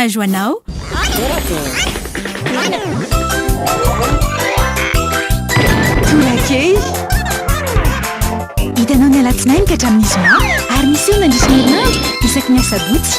Courage ho anao. Torakely. Hitanao ny alatsinainy ka hatramin'ny zoma ary miseho nandritra ny herinandro isaky ny asabotsy.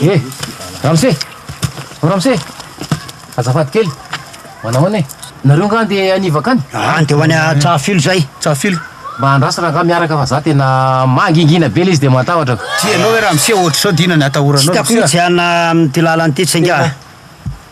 Eh! Ramose! O Ramose! Azafady kely! Manao ahoana e? Nareo angaha andeha hanivaka any? Aa andeha ho any Tsahafilo izay! Tsahafilo? Mba andrasana angaha miaraka fa za tena mangingina be ilay izy dia mahatahotra ko! Tsy ianao ve Ramose ohatr'izao dia inona ny atahoranao Ramose a? Tsy hitako mihitsy hiana amin'ity lalana ity tsy angaha?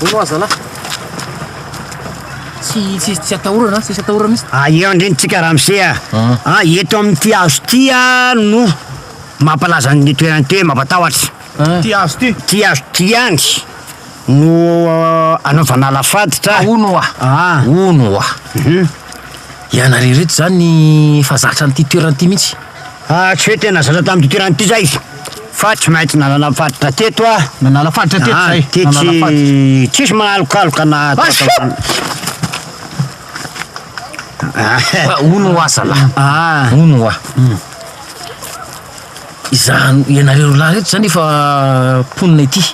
Hono oa zalah. Tsy tsy tsy atahorana, tsy atahorana mihitsy. Ah, eo andrentsika Ramse ah. Ah, eto amin'ity hazo ity ah no mampalaza ny toerana ity hoe mampatahotra. Ity hazo ity. Ity hazo ity ihany no anaovana alafaditra. Hono oa. Ah. Hono oa. Ianareo ireto izany efa zatra an'ity toerana ity mihitsy. Ah, tsy hoe tena zatra tamin'ity toerana ity izay, fa tsy maintsy nanala faditra teto aho. Nanala faditra teto izay? Ah, tetsy tsisy mahalokaloka na Hono hoa zalah, hono hoa. Izany ianareo roa lahy ireto izany efa mponina ety.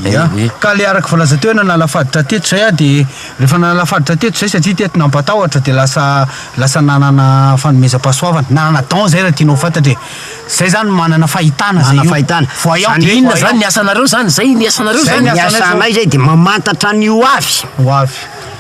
Ya. Ka le araka voalaza teo hoe nanala faditra teto izay aho dia rehefa nanala faditra teto izay satria teto nampatahotra dia lasa lasa nanana fanomezam-pahasoavana. Nanana don izay raha tianao ho fantatra e. Izay izany manana fahitana izay io. Manana fahitana. Voyant. Dia inona izany ny asanareo izany? Izay ny asanareo izany? Ny asanay izay dia mamantatra ny ho avy. Ho avy.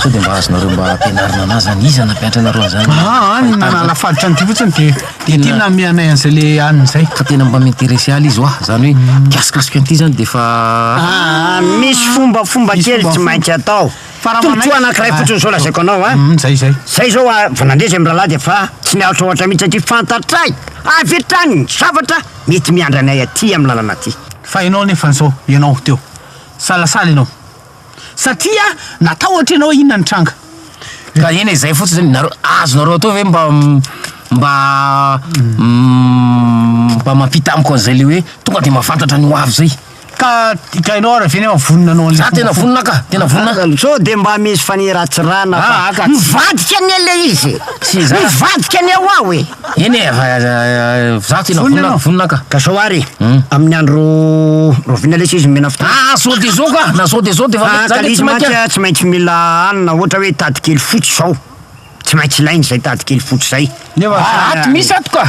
Sao dia mba azonareo mba ampianarina anah zany? Iza nampianatra anareo an'izany? Aha, ny nanala faditra an'ity fotsiny dia dia ity namehy anay an'izay le anona izay. Ka tena mba mi-interesser ahy le izy hoa, zany hoe mikasikasika an'ity zany dia efa Ah, misy fombafomba Misy kely tsy fombafomba. maintsy atao. Fa raha Tombontsoa manaiky- anankiray fotsiny izao lazaiko anao an. Mm, zay zay. Zay izao a, vao nandeha izay mirahalahy dia efa tsy niaritra ohatra mihitsy aty fantatray avy hatrany ny zavatra mety miandry anay aty amin'ny lalana aty. Fa ianao anefa izao, ianao teo, salasala ianao. Satria natahotra ianao inona nitranga? Ka eny e zay fotsiny zany, nareo azonareo atao ve mba mba mba mampita amiko an'izay le hoe tonga de mahafantatra ny ho avy zay. Ka ka ianao ary avy eo nefa vonona anao an'le fomba. Za tena vonona ka, tena vonona. Sao de mba misy faniratsirana fa. Mivadika anie le izy e! Mivadika anie ho aho e! Eny e, vazaha tena Vonona ianao? vonona ka. Ka sao ary amin'ny andro rahoviana lesy izy omena fotoana? Ah, sao dia izao ka, na sao dia izao dia efa mety, Fa za dia tsy kalizy mantsy mainka. a, tsy maintsy mila hanina ohatra hoe tady kely fotsy izao. Tsy maintsy ilaina izay tady kely fotsy izay. Nefa Ah, zany ato ary. misy ato ka.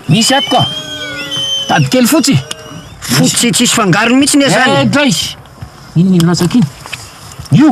Misy ato ka. Tady kely fotsy. Fotsy tsisy fangarony mihitsy anie Eh, izany. dray. Inona iny latsaka iny? Io.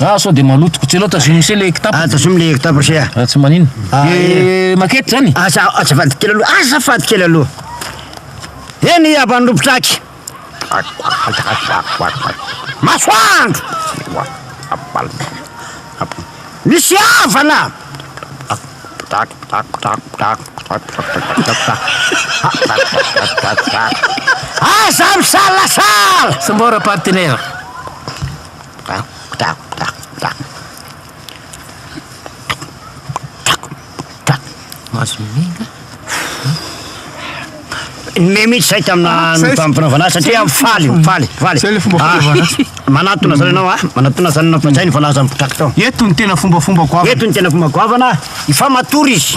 Ah sao de maloto. Kotselao tazomy mise le kitapo. Ah tazomy le kitapo ise ah. Tsy manino. De maquette zany? Asa azafady kely aloha. Azafady kely aloha. Eny abany ropitraky. Masoandro. Misy havana. Aza misalasala. Sambora partenaire. Nomey mihitsy zay tamina mpanaovana azy satria faly, faly, faly. Zay le fomba fanaovana azy. Manatona zany ianao a, manatona zany ianao fa zay ny voalazan'ny mpitrakta. Eto ny tena fombafomba goavana. Eto ny tena fomba goavana, efa matory izy.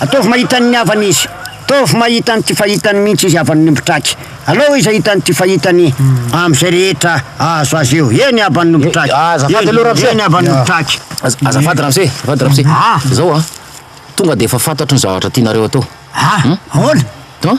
Ataovy mahita ny havany izy. Ataovy mahita an'ity fahitany mihitsy izy havan'ny ombitraky. Alao izy hahita an'ity fahitany amin'izay rehetra azo azy eo. Eny havan'ny ombitraky. Ah, azafady aloha Ramse. Eny havan'ny ombitraky. Az- Azafady Ramse, azafady Ramse. Ah. Izao an, tonga dia efa fantatro ny zavatra tianareo atao. Ah, ahoana? An?